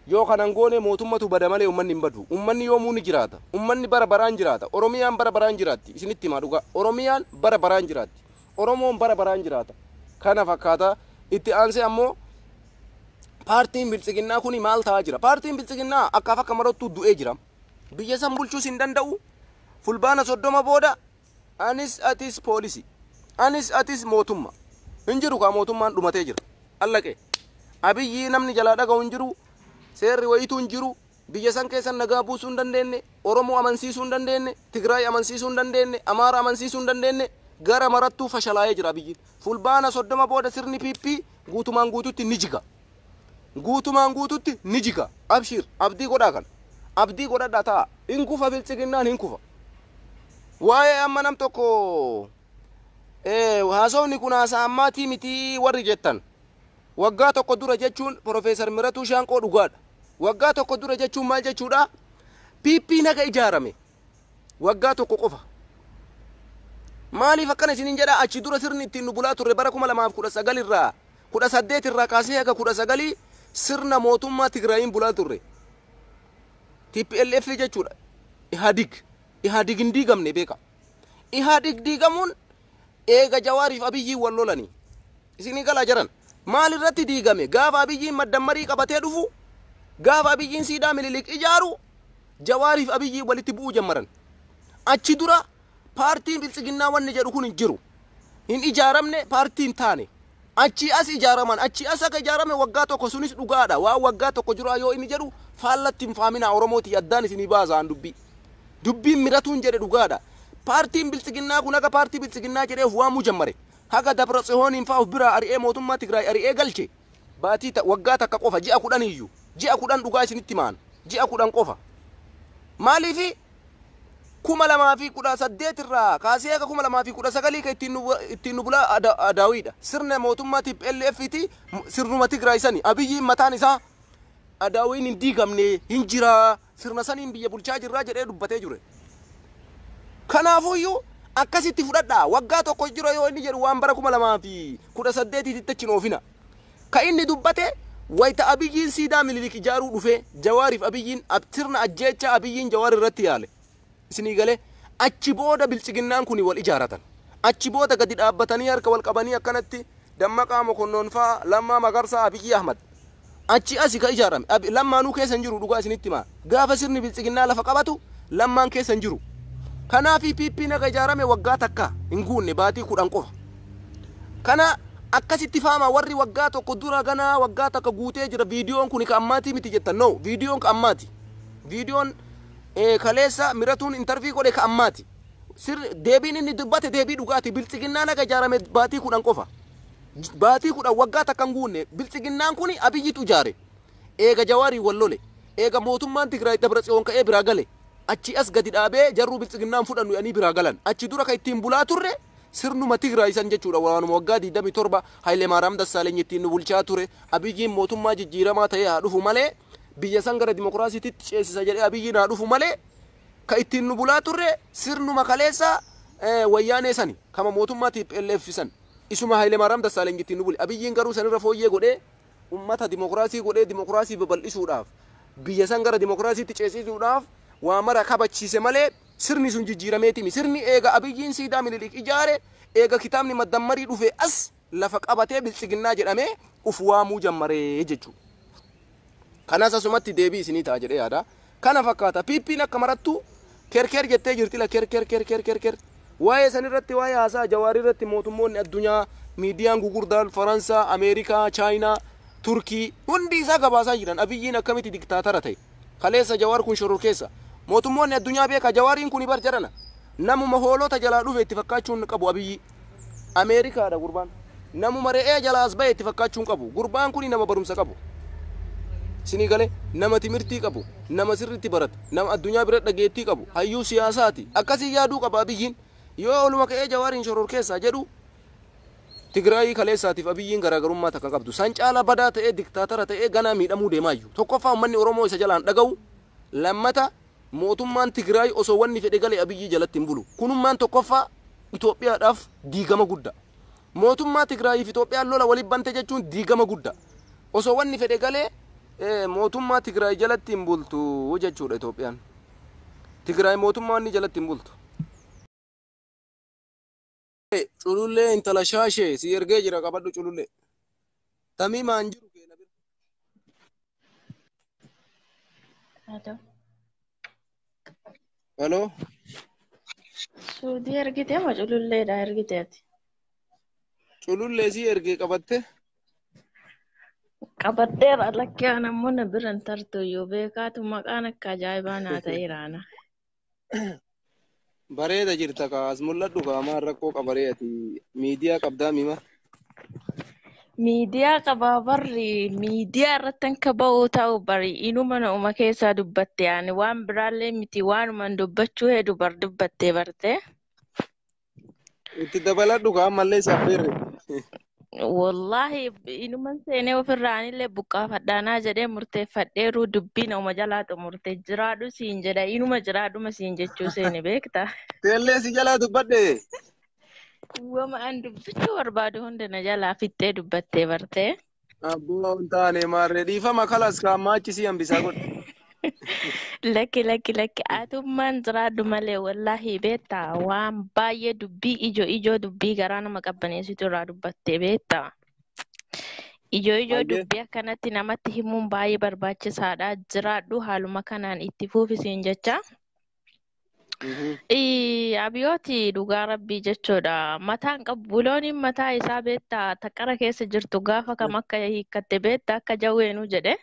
Yoo kana hin goone mootummatu bada malee ummanni hin badu. Ummanni yoomuu ni jiraata. Ummanni bara baraan jiraata. Oromiyaan bara baraan jiraatti. Isinitti himaa dhugaa. Oromiyaan bara baraan jiraatti. Oromoon bara baraan jiraata. Kana fakkaata. Itti aansee ammoo paartiin biltsiginnaa kuni maal ta'aa jira? Paartiin biltsiginnaa akkaaf akka marottuu du'ee jira. Biyya san bulchuus hin danda'u. Fulbaana soddoma booda anis atis poolisii, anis atis mootumma. Hin jiru kaa mootummaan dhumatee jira. Allaqee. Abiyyii namni jalaa dhaga'u hin jiru, seerri wayiituu hin jiru, Biyya san keessa nagaa buusuu hin dandeenne, Oromoo amansiisuu hin dandeenne, Tigraay amansiisuu hin dandeenne, Amaara amansiisuu hin dandeenne, gara marattuu fashalaa'ee jira Abiyyiin. Fulbaana 30 booda sirni PP guutumaan guututti ni jiga. Guutumaan guututti ni jiga. Abshiir, abdii godhaa kana. Abdii godhadhaa taa'aa. Hin kufa Biltsiginnaan hin kufa. Waa'ee amma nam tokko haasofni kun haasaa ammaatii mitii warri jettan. Waggaa tokko dura jechuun Professor Miratuu Shaanqoo dhugaadha. Waggaa tokko dura jechuun maal jechuudha? PPn haga ijaarame waggaa tokko qofa. Maaliif akkana isiniin jedha achi dura sirni ittiin nu bulaa turre bara 2019 irraa 18 irraa kaasee haga 19 sirna mootummaa Tigraayiin bulaa turre. TPLF jechuudha. Ihaadig. Ihaadig hin diigamne beeka. Ihaadig diigamuun eega Jawaariif Abiyyiin wal lolanii. Isinii galaa jaran. Maal irratti diigame? Gaafa Abiyyiin maddammarii qabatee dhufu, gaafa Abiyyiin siidaa Minilik ijaaru, Jawaariif Abiyyii walitti bu'uu jammaran. Achi dura paartiin Biltsiginnaa wanni jedhu kun hin jiru. Hin ijaaramne, paartii hin taane. Achii as ijaaraman. Achii as akka ijaarame waggaa tokko sunis dhugaadha. Waan waggaa tokko duraa yoo inni jedhu faallatti hin faaminaa Oromoo tiyya addaan isinii baasa an dubbii. Dubbiin Miratuun jedhe dhugaadha. Paartiin Biltsiginnaa kun akka paartii Biltsiginnaa jedhee of waamuu jammare. Haga Dabratsihooniin faa of biraa ari'ee mootummaa Tigraay ari'ee galche baatii ta, waggaa takka qofa ji'a kudhan iyyuu. Ji'a kudhan dhugaa isinitti hima an. Ji'a kudhan qofa. Maaliifi 2018 irraa kaasee haga 2019 ka ittiin nu, ittiin nu bulaa ada, adaawiidha. Sirna mootummaa TPLF ti sirnuma Tigraay sani. Abiyyiin mataan isaa adaawiin hin diigamne hin jiraa. sirna saniin biyya bulchaa jirra jedhee dubbatee jure. Kanaafuyyuu akkasitti fudhadhaa waggaa tokkos jira yoo inni jedhu waan bara 2018 titti achi hin oofina. Ka inni dubbate wayita Abiyyiin siidaa Minilik ijaaruu dhufee Jawaariif Abiyyiin ab- sirna ajjeechaa Abiyyiin Jawaar irratti yaale. Isinii galee? Achi booda biltsiginnaan kuni wal ijaaratan. Achi booda gadi dhaabbatanii harka wal qabanii akkanatti Dammaqaa Mokonnon fa'a, Lammaa Magarsaa, Abiyyii Ahmad. Achii asi ka ijaarame. Abi, Lammaanuu keessa hin jiru dhugaa isinitti himaa. Gaafa sirni biltsiginnaa lafa qabatu Lammaan keessa hin jiru. Kanaafi PPn ega ijaarame waggaa takka hin guunne baatii 10 qofa. Kana akkasitti faamaa warri waggaa tokko dura ganaa waggaa takka guutee jira viidiyoon kuni ka ammaatii miti jettan. No, viidiyoon ka ammaati. Viidiyoon Kaleessa Miratuun intervii godhe ka ammaati. Sirri deebiin inni dubbate deebii dhugaati. Biltsiginnaan haga ijaarame baatii kudhan qofa. Baatii kudhan waggaa takka hin guunne. Biltsiginnaan kuni Abiyyitu ijaare. Eega Jawaariin wal lole. Eega mootummaan Tigraay Dabratsiyoon ka'ee biraa gale. Achii as gadi dhaabee jarruu biltsiginnaa hin fudhannu jedhanii biraa galan. Achi dura ka ittiin bulaa turre sirnuma Tigraay san jechuudha. Waanuma waggaa 27 Hayilemaaraam Dassaalenyi ittiin nu bulchaa ture. Abiyyiin mootummaa jijjiiramaa ta'ee haa dhufu malee Biyya san gara dimokiraasiititti ceesisa jedhee Abiyyiin haa dhufu malee ka ittiin nu bulaa turre sirnuma kaleessaa eh, wayyaanee sani kama mootummaa TPLF san isuma Hayilemaaraam Dassaaleny ittiin nu bule. Abiyyiin garuu sanirra fooyyee godhee ummata dimokiraasii godhee dimokiraasii babal'isuudhaaf biyya san gara dimokiraasiitti ceesisuudhaaf waa mara kabachiise malee sirni sun jijjiirameetimi. Sirni eega Abiyyiin siidaa Minilik ijaare eega kitaabni maddammarii dhufee as lafa qabatee biltsiginnaa jedhamee uf waamuu jammare jechuudha. Kanas asumatti deebii isinii ta'a jedhee yaada. Kana fakkaata. PPn akka marattuu kerker jettee jirti la kerker kerker kerker. Waa'ee san irratti waa'ee haasaa Jawaar irratti mootummoonni addunyaa miidiyaan gugurdaan Faransaa, Ameerikaa, Chaayinaa, Turkii hundi isaa gabaasaa jiran Abiyyiin akkamitti diktaatara ta'e. Kaleessa Jawaar kun shororkeessa. Mootummoonni addunyaa beekaa Jawaariin kuni bar jarana. Namuma hoolota jalaa dhufe itti fakkaachuun qabu Abiyyii. Ameerikaadha gurbaan. Namuma re'ee jalaa as bahe itti fakkaachuu hin qabu. Gurbaan kuni nama barumsa qabu. Isinii galee nama timirtii qabu, nama sirriitti barate, nama addunyaa bira dhageettii qabu, hayyuu siyaasaati. Akkasii yaaduu qaba Abiyyiin. Yoo oluma ka'ee Jawaariin shororkeessaa jedhu Tigraayii kaleessaatiif Abiyyiin garaagarummaa takka hin qabdu. San caalaa badaa ta'ee diktaatara ta'ee ganaa miidhamuu deemaayyu. Tokkoffaa uummanni Oromoo isa jalaa hin dhaga'u. Lammata Mootummaan Tigraay osoo wanni fedhe gale Abiyyi jalatti hin bulu. Kunummaan tokkoffaa Itoophiyaadhaaf diigama gudda. Mootummaa Tigraayii fi Itoophiyaan lola walitti bante jechuun diigama gudda. Osoo wanni fedhe galee mootummaa Tigraay jalatti hin bultu jechuudha Itoophiyaan. Tigraay mootummaa wanni jalatti hin bultu. Culullee intala shaashee si ergee jira qabadhu culullee. Tamimaan jiru kee na bira. Hello. Hello. Suudii ergite moo cululleedha ergite ati? Culullee si ergee qabatte. Qabadheera lakkee anammoo na bira hin tartu iyyuu beekaatu maqaan akka ajaa'ibaa naa ta'eera ana. Bareeda jirta kaa as mul'adhu kaa maal rakkoo qabaree ati miidiyaa qabdaa mima. Miidiyaa qabaa barri miidiyaa irratti akka ba'uu ta'u bari inuma na'uma keessaa dubbatte ani waan biraallee miti waanuman dubbachuu hedu bar dubbattee barte. Itti dabaladhu kaa ammallee si affeerre. Wallaahi inuman seenee ofirraanillee buqqaafadhaanaa jedhee murteeffadheeruu dubbiin oma jalaa xumurte jiraadhu siin jedha inuma jiraadhuma siin jechuu seene beekta. Teellee si jalaa dubbadhe. Wama an dubbachuu barbaadu hunda na jalaa fixxee dubbattee bartee. Abboo hin taane maarree dhiifama kalas kaammaa achi si hambisaa godhe. Lakki lakki lakki atummaan jiraadhu malee wallaahi beektaa waan baay'ee dubbii ijoo ijoo dubbii garaa nama qabbaneessitu irraa dubbattee beektaa. Ijoo ijoo Hayyee dubbii akkanatti namatti himuun baay'ee barbaachisaadha. Jiraadhu haaluma kanaan itti fuufi siin jechaa. Mhm. Ii, Abiyooti dhugaa rabbii jechuudha. Mataan qabu bulooniin mataa isaa beetta taqara keessa jirtu gaafa kam akka hiikkatte beetta akka jawweenuu jedhe.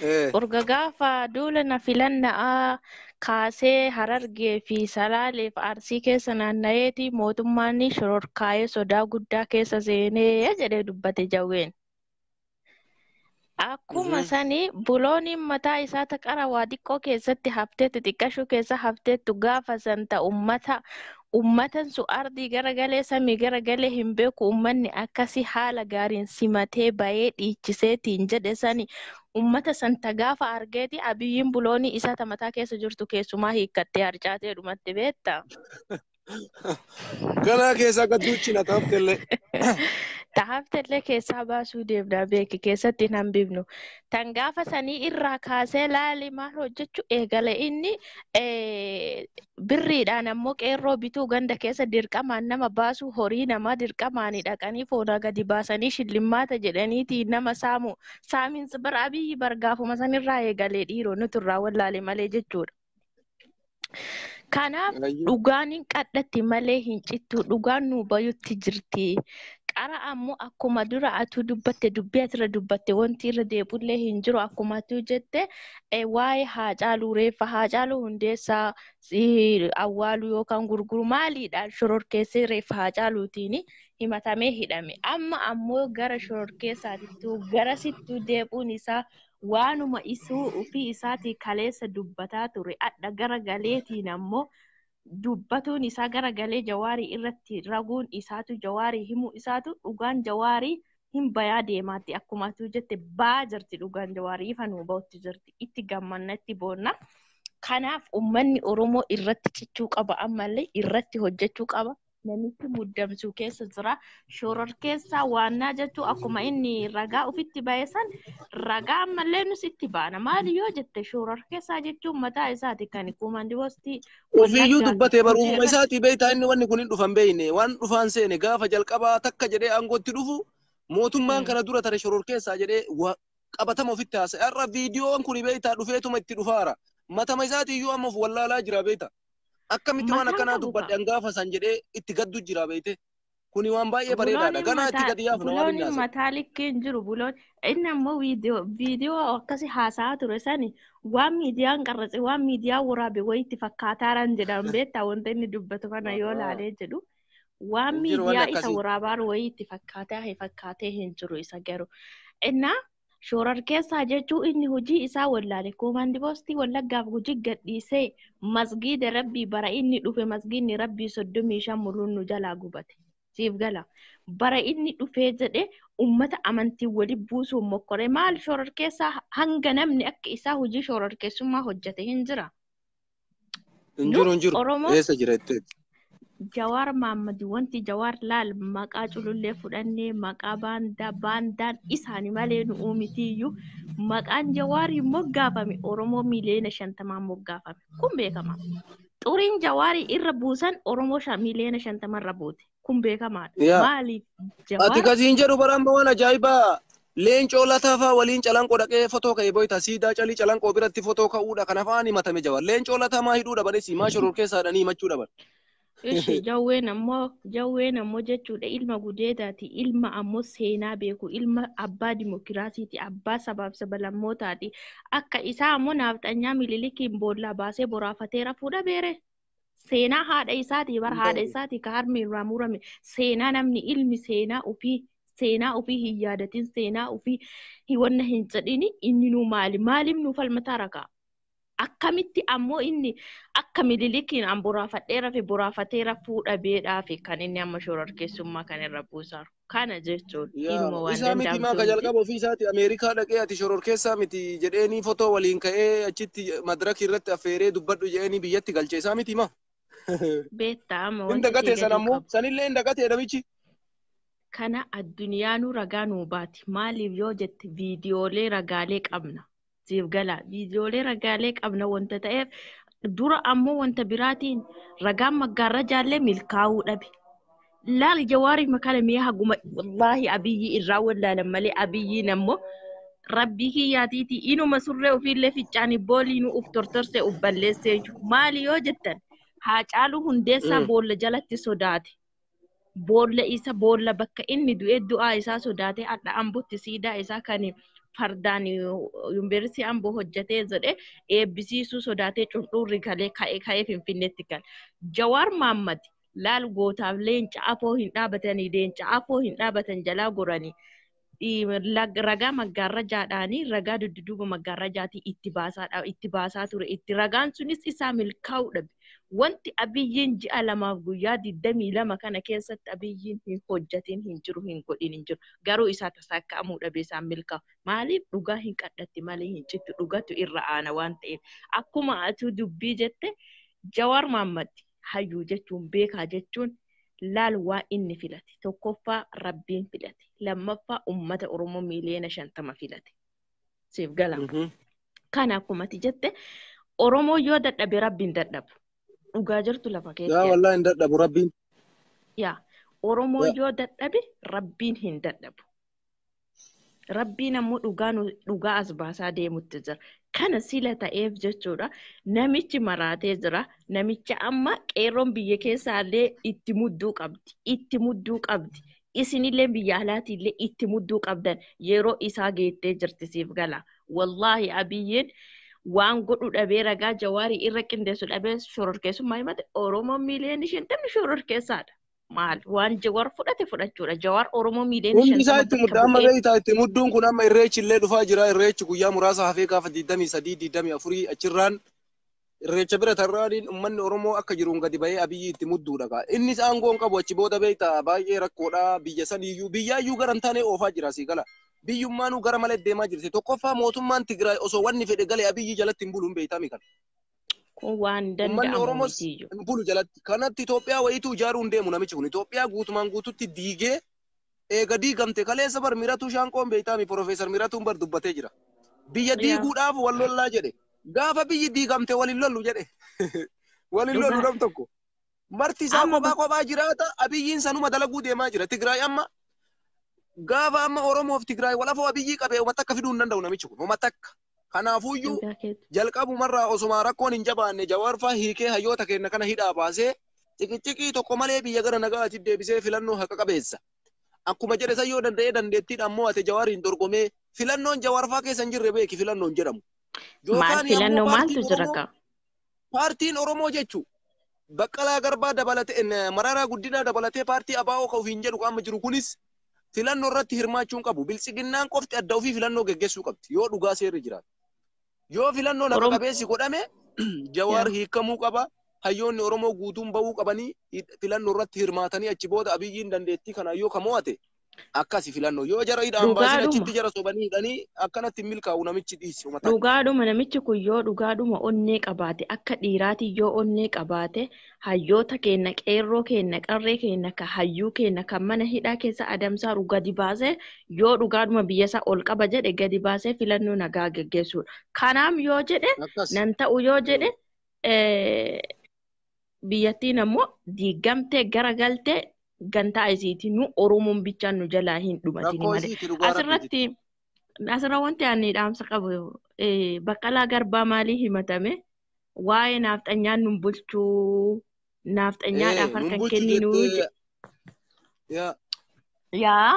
Eh. Urga gaafa duula na filanna'aa kaasee harargee fi salaaleef arsii keessa naanna'eeti mootummaan shororkaa'ee sodaa guddaa keessa seenee jedhee dubbate jawween. Akkuma Mhm. sani bulooniin mataa isaa ta qara waa xiqqoo keessatti hafteettu xiqqashuu keessa hafteettu gaafa san ta ummata ummatan sun ardii garagalee samii garagalee hin beeku ummanni akkasi haala gaariin simatee bayee dhiichiseetiin jedhe sani ummata san ta gaafa argeeti abiyyiin buloonii isaa ta mataa keessa jirtu keessumaa hiikkattee harcaatee dhumatti beetta. Ganaa keessaa akka duuchina taaftellee. Taaftellee keessaa baasuu deemnaa beeki keessatti hin hambifnu. Tan gaafa sanii irraa kaasee laali maal hojjechu eegale inni birriidhaan ammoo qeerroo bituu ganda keessa dirqamaan nama baasuu horii namaa dirqamaanii dhaqanii foonaa gadi baasanii shillimmaata jedhaniiti nama saamu. Saaminsi bara abiyyi bargaafuma sanirraa eegalee dhiiroo nuti irraa wallaale malee jechuudha. Kanaaf Ayyu. dhugaan hin qadhatti malee hin cittu. Dhugaan nuu bayutti jirti. Qara ammoo akkuma dura atuu dubbatte dubbii asirra dubbatte wanti irra deebullee hin jiru akkuma atuu jette eh, waa'ee haacaaluu reeffa haacaaluu hundeessaa si- awwaaluu yookaan gurguru maaliidhaan shororkeessee reeffa haacaaluutiin himatamee hidhame. Amma ammoo gara shororkeessaatittuu garasittuu deebi'uun isaa waanuma isuu ufii isaatii kaleessa dubbataa ture adha gara galeetiin ammoo dubbatuun isaa gara galee jawaarii irratti raguun isaatu jawaarii himuu isaatu dhugaan jawaarii hin bayaa deemaatti akkuma atuu jette baa jirti dhugaan jawaarii ifa nuu ba'utti jirti itti gammanna itti boonna kanaaf ummanni oromoo irratti cichuu qaba ammallee irratti hojjechuu qaba namichi muddamsuu keessa jira. Shororkeessaa waannaa jechuun akkuma inni ragaa ofitti ba'e san ragaa ammallee nus itti baana. Maali yoo jette shororkeessaa jechuun mataa isaati kan kuumandi postii. Ofiiyyuu dubbatee barumsa isaatii beektaa inni wanni kun hin dhufan beekne waan dhufaan seene gaafa jalqabaa takka jedhee aangootti dhufu mootummaan kana dura tare shororkeessaa jedhee qabatama ofitti haasa'e. Har'a viidiyoon kun beektaa dhufeetuma itti dhufaara. Matama isaatiiyyuu amma of wallaalaa jira beektaa. Akkamitti waan Mataan akkanaa qabu dubbadhe kaa. an gaafa san jedhee itti gaddu jira beeyte. Kuni waan baay'ee bareedaadha. Bulooniin Ganaa itti mataa gadi yaafna waan inni bulooniin haasa'u. mataa likkii hin jiru buloon inni ammoo viidiyoo viidiyoo akkasi haasa'aa ture sani waan miidiyaan qarratse waan miidiyaan waraabe wayitti fakkaataaraan jedhaan beektaa wanta inni dubbatu kana yoo Ahaa. laalee jedhu waan Hin jiru wanni miidiyaa isa akkasii. waraabaan wayitti fakkaataa hin fakkaatee hin jiru isa garuu innaa Shoorarkeessaa jechuu inni hojii isaa wallaale koomaandi poostii wallaggaaf hojii gadhiisee masgiida rabbii bara inni dhufe masgiidni rabbii soddomii shan muluun nu jalaa gubate. Siif gala. Bara inni dhufee jedhe ummata amantii wali buusuun mokkore maal shoorarkeessaa hanga namni akka isaa hojii shoorarkeessummaa hojjate hin jira. Hin jiru hin jiru. Oromoo- Eessa jira jetteetti. Jawaar Maammad wanti Jawaar laal maqaa culullee fudhannee maqaa baandaa baandaan isaani malee nu uumitiyyuu maqaan Jawaarii moggaafame Oromoo miliyoona shantamaan moggaafame kun beekama. Xuriin Jawaarii irra buusan Oromoo shan- miliyoona shantamarra buute. kun beekamaadha Yaa. maaliif Ati jawaar kasiin jedhu bara amma waan ajaa'ibaa leencoo lataa faa waliin calanqoo dhaqee fotoo ka'e boyta siidaa calii calanqoo biratti fotoo ka'uudha kan afaan himatame jawar leencoo lataa maa hidhuu dhabanis maa shoror keessaadhanii himachuu dhaban. Ishi jawween ammoo jawween ammoo jechuudha ilma gudeedaati ilma ammoo seenaa beeku ilma abbaa dimokiraasiiti abbaa sabaaf sabalammootaati akka isaa ammoo naafxanyaa mililikiin boollaa baasee boraafatee rafuudha beere seenaa haadha isaatii bar haadha isaatii ka harmi irraa murame seenaa namni ilmi seenaa ofii seenaa ofii hin yaadatin seenaa ofii hiwanna hin jedhini inni nuu maali maaliif nuu falmataa rakaa akkamitti ammoo inni akka mililikiin an boraafadhee rafe boraafatee rafuu dhabeedhaafi kan inni amma shororkeessummaa kan irra buusaaru. kana jechuun Yaa dhiiruma waan isaa miti maa danda'amtu ka miti. jalqaba ofii isaati Ameerikaa dhaqee ati shororkeessaa miti jedheenii fotoo waliin ka'ee achitti madraki irratti affeeree dubbadhu jedheenii biyyatti galche isaa miti maa. Beektaa amma Hin wanti si dagatee san galuu ammoo qabu. sanillee hin dagatee namichi. Kana addunyaanuu ragaa nuu baati. Maaliif yoo jette viidiyoolee ragaalee qabna. siif gala. Viidiyoolee ragaalee qabna wanta ta'eef dura ammoo wanta biraatiin ragaan maggaarrajaallee milkaa'uu dhabe. Laal jawaarii makana mee haguma wallaahi abiyyii irraa wallaalan malee abiyyiin ammoo rabbii kiyyaatiiti inuma surree ofiillee ficcaanii booliinuu uf tortorse uf balleessee maali yoo jettan haacaaluu hundeessaa boolla jalatti sodaate. boolla isa boolla bakka inni du'e du'aa isaa sodaatee adha ambotti siidaa isaa kan fardaan yuunivarsiitii amboo hojjetee jedhe eebbisiisuu sodaatee cundhuurri galee ka'ee ka'ee finfinneetti gale. Jawaar Maammad laal gootaaf leenca afoo hin dhaabatanii leenca afoo hin dhaabatan jalaa goranii ragaa maggaarrajaadhaanii ragaa dudduuba maggaarrajaatii itti baasaadha itti baasaa ture itti ragaan sunis isaa milkaa'uu dhabe wanti abiyyiin ji'a lamaaf guyyaa digdamii lama kana keessatti abiyyiin hin hojjatiin hin jiru hin godhin hin jiru garuu isaa tasaakkaa'amuu dhabe isaan milkaa'u maaliif dhugaa hin qadhatti malee hin cittu dhugatu irra aana waan ta'eef akkuma atuu dubbii jette jawaar maammatti hayyuu jechuun beekaa jechuun laal waan inni filate tokkoffaa rabbiin filate lammaffaa ummata oromoo miiliyoona shantama filate siif gala kana akkuma ati jette oromoo yoo dadhabe rabbiin dadhabu dhugaa jirtu lafa yaa keessa wallah hin dadhabu rabbiin yaa oromoo Yaa. yoo dadhabe rabbiin hin dadhabu Rabbiin ammoo dhugaa nu- dhugaa as baasaa deemutti jira. Kana sila ta'eef jechuudha. Namichi maraatee jira. Namicha amma qeerroon biyya keessaallee itti mudduu qabdi. Itti mudduu qabdi. Isinillee biyya alaatiillee itti mudduu qabdan yeroo isaa geettee jirti siif gala. Wallaahi abiyyiin waan godhu dhabee ragaa jawaarii irra qindeessu dhabee shororkeessummaa himate Oromoon miiliyoonni shantamni shororkeessaadha. maal waan jawar fudhate fudhachuudha jawar oromoo miiliyoona Hundi isaa shantama itti bakka mudda amma bu'ee beektaa itti mudduun kun amma irreechi illee dhufaa jira irreechi guyyaa muraasa hafee gaafa 23 24 achirraan irreecha bira tarraaniin ummanni Oromoo akka jiruun gadi ba'ee abiyyi itti mudduudha kaa innis aangoo hin qabu achi booda beektaa baay'ee rakkoodha biyya saniyyuu biyyaayyuu gara hin taane oofaa jira sii gala biyyummaanuu gara malee deemaa jirti tokkoffaa mootummaan Tigraay osoo wanni fedhe galee abiyyi jalatti hin bulu hin beektaa mikan Kun waan Ummanni danda'amu Oromoos miti iyyuu. hin bulu jalatti. Kanatti Itoophiyaa wayiitu ijaaruu hin deemu namichi kun. Itoophiyaa guutumaan guututti diigee eega diigamte kaleessa bar Miratuu Shaanqoon beektaami Profeesar Miratuun bar dubbatee jira. Biyya Yaa. diiguudhaaf wal lollaa jedhe. Gaafa biyyi diigamte wal hin lollu jedhe. Wal hin lollu Dhugaa. nam tokko. Marti isaa Amma kophaa kophaa jiraata. Abiyyiin sanuma dalaguu deemaa jira. Tigraay amma gaafa amma Oromoof Tigraay walafoo Abiyyii qabee uummata akka fiduu hin danda'u namichi kun. Uummata akka. Kanaafuyyuu dhugaa keetti. jalqabumarraa osuma rakkoon hin jabaanne jawaarfaa hiikee hayyoota keenya kana hidhaa baasee ciqiciqii tokko malee biyya gara nagaatiif deebisee filannoo haqa qabeessa. Akkuma jedhe san yoo danda'ee dandeettiidhaan mo'ate jawaariin dorgomee filannoon jawaarfaa keessa hin jirre beeki filannoon jedhamu. Maal Jookaanii ammoo filannoo maaltu paartiin jira Oromoo kaa? Paartiin Oromoo jechu Baqqalaa Garbaa dabalatee Mararaa Guddinaa dabalatee paartii ABO ka ofiin jedhu ka amma jiru kunis filannoo irratti hirmaachuun qabu. Biltsiginnaan qofti adda ofii filannoo geggessuu qabdi yoo dhugaa seerri jiraate. Yoo filannoo naga qabeessi godhame Jawaar hiikamuu qaba. Hayyoonni Oromoo guutuun ba'uu qabanii filannoo irratti hirmaatanii achi booda Abiyyiin dandeettii kanaan yoo ka mo'ate akkasi filannoo yoo jara hidhaan Dhugaadhuma. baasin achitti jara sobanii hidhanii akkanatti hin milkaa'u namichi dhiisi uma takka. Dhugaadhuma namichi kun yoo dhugaadhuma onnee qabaate akka dhiiraati yoo onnee qabaate hayyoota keenna qeerroo keenna qarree keenna ka hayyuu keenna kan mana hidhaa keessa adamsaaru gadi baasee yoo dhugaadhuma biyya isaa ol qaba jedhe gadi baasee filannoo nagaa geggeessuudha. Kanaaf yoo jedhe Akkas. nan ta'u yoo jedhe eh, biyyattiin ammoo diigamtee gara galtee gantaa isiiti nu oromoon bichaan nu jalaa hin dhumatini Rakkoo malee isiiti dhugaa rabbiiti. asirratti asirra wanti ani dhaamsa qabu eh, baqqalaa garbaa maalii himatame waa'ee naafxanyaan nun bulchuu naafxanyaadhaaf Ee, nun harkan bulchu kenninuu jettee Yaa. Yaa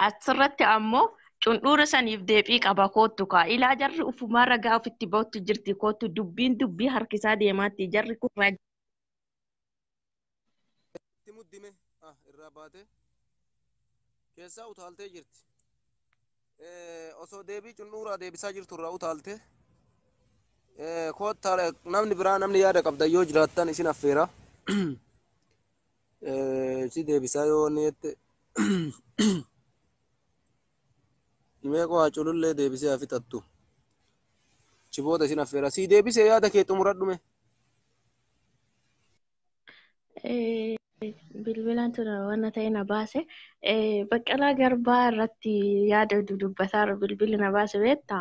asirratti ammoo cundhuura saniif deebii qaba koottu kaa ilaa jarri ufumaa ragaa ofitti ba'utti jirti koottu dubbiin dubbii harkisaa deemaatti jarri kun ragaa Itti muddime. Ah, irraa baatee. Keessaa utaaltee jirti. osoo deebii cunnuuraa deebisaa jirtu irraa utaalte koottaa namni biraa namni yaada qabdan yoo jiraattan isin affeera si deebisaa yoo wanni jette mee koo haa culullee deebisee haa fixattu chiboota isin affeera si deebisee yaada kee xumuradhume. bilbilaan tura waan ta'e na baase baqqalaa garbaa irratti yaada dudubbataa bilbili na baase beekta.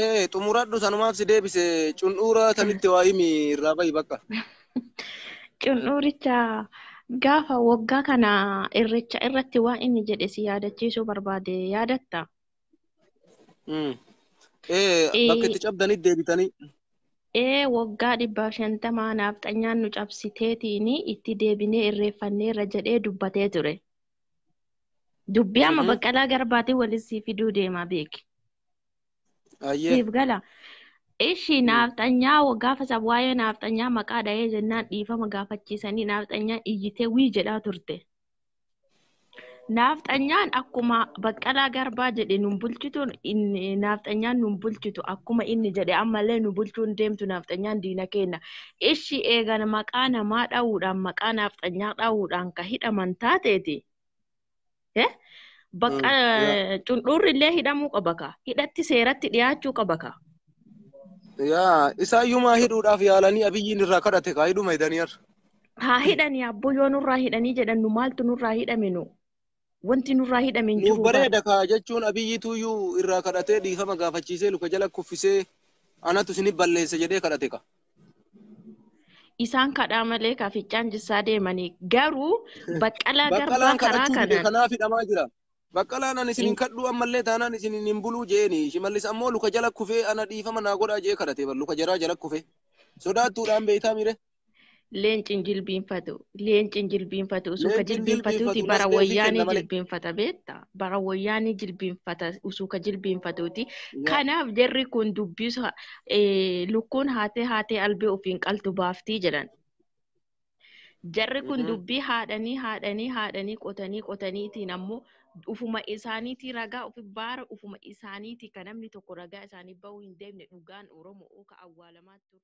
Ee xumuradhu sanumaaf si deebise cundhuura tanitti waa himi irraa bahi bakka. Cundhuuricha gaafa waggaa kana irreecha irratti waan inni jedhe si yaadachiisuu barbaade yaadatta. Mm. Ee, bakka itti cabdanii deebitanii. Ee waggaa dhibbaaf shantamaa naafxanyaan nu cabsiteetiin itti deebinee irreeffanneerra jedhee dubbatee ture. Dubbii amma Mhm. baqqalaa garbaatiin waliin sii fiduu deemaa beeki. Ayyee. Siif gala. Ishi Mm. naafxanyaa gaafa sab waa'ee naafxanyaa maqaa dhahee jennaan dhiifama gaafachiisanii naafxanyaan iyyitee wii jedhaa turte. Naafxanyaan akkuma baqqalaa garbaa jedhe nun bulchitu naafxanyaan nun bulchitu akkuma inni jedhe ammallee nu bulchuun deemtu naafxanyaan diina keenya. Ishi eegan maqaa namaa dha'uudhaan maqaa naafxanyaa dha'uudhaan ka hidhaman taateeti. Bakka cundhuurri illee hidhamuu qaba ka hidhatti seeratti dhiyaachuu qaba ka. Yaa isaayyumaa hidhuudhaaf yaalanii abiyyiin irraa kadhate kaa hidhuma hidhanii har'a. haa hidhanii abboo yoo nurraa hidhanii jedhan nu maaltu nurraa hidhame nu wanti nurraa hidhame hin Nuuf jiru bara bareeda kaa jechuun abiyyi tuyyuu irraa kadhatee dhiifama gaafachiisee luka jala kuffisee anatu isin balleesse jedhee kadhate ka. isaan kadhaa malee ka ficcaan jissaa deemanii garuu baqqalaa garbaa Baqqalaan karaa kadhachuu dide kanaan kanaaf hidhamaa jira. Baqqalaan ani isin hin kadhuu ammallee taanaan isin hin buluu jeeni. Shimallis ammoo luka jala kufee ana dhiifama naa godhaa jee kadhate bar luka jaraa jala kufee. Sodaattuudhaan beektaa mire. Leenci hin jilbiinfatu. Leenci hin jilbiinfatu. Usuuka Leenci hin jilbiinfatuuti jilbiinfatu, bara masqeefii wayyaanii kenna malee. jilbiinfata beetta. Bara wayyaanii jilbiinfata usuuka jilbiinfatuuti. Yaa. Kanaaf jarri kun dubbisa eh, lukkuun haatee haatee albee ofiin qaltu baaftii jedhan. Jarri kun Mhm. dubbii haadhanii haadhanii haadhanii qotanii qotaniitiin ammoo ufuma isaaniitii ragaa ofi baara ufuma isaaniitii kan namni tokko ragaa isaanii bahuu hin deemne dhugaan Oromoo ka awwaalamaa ture.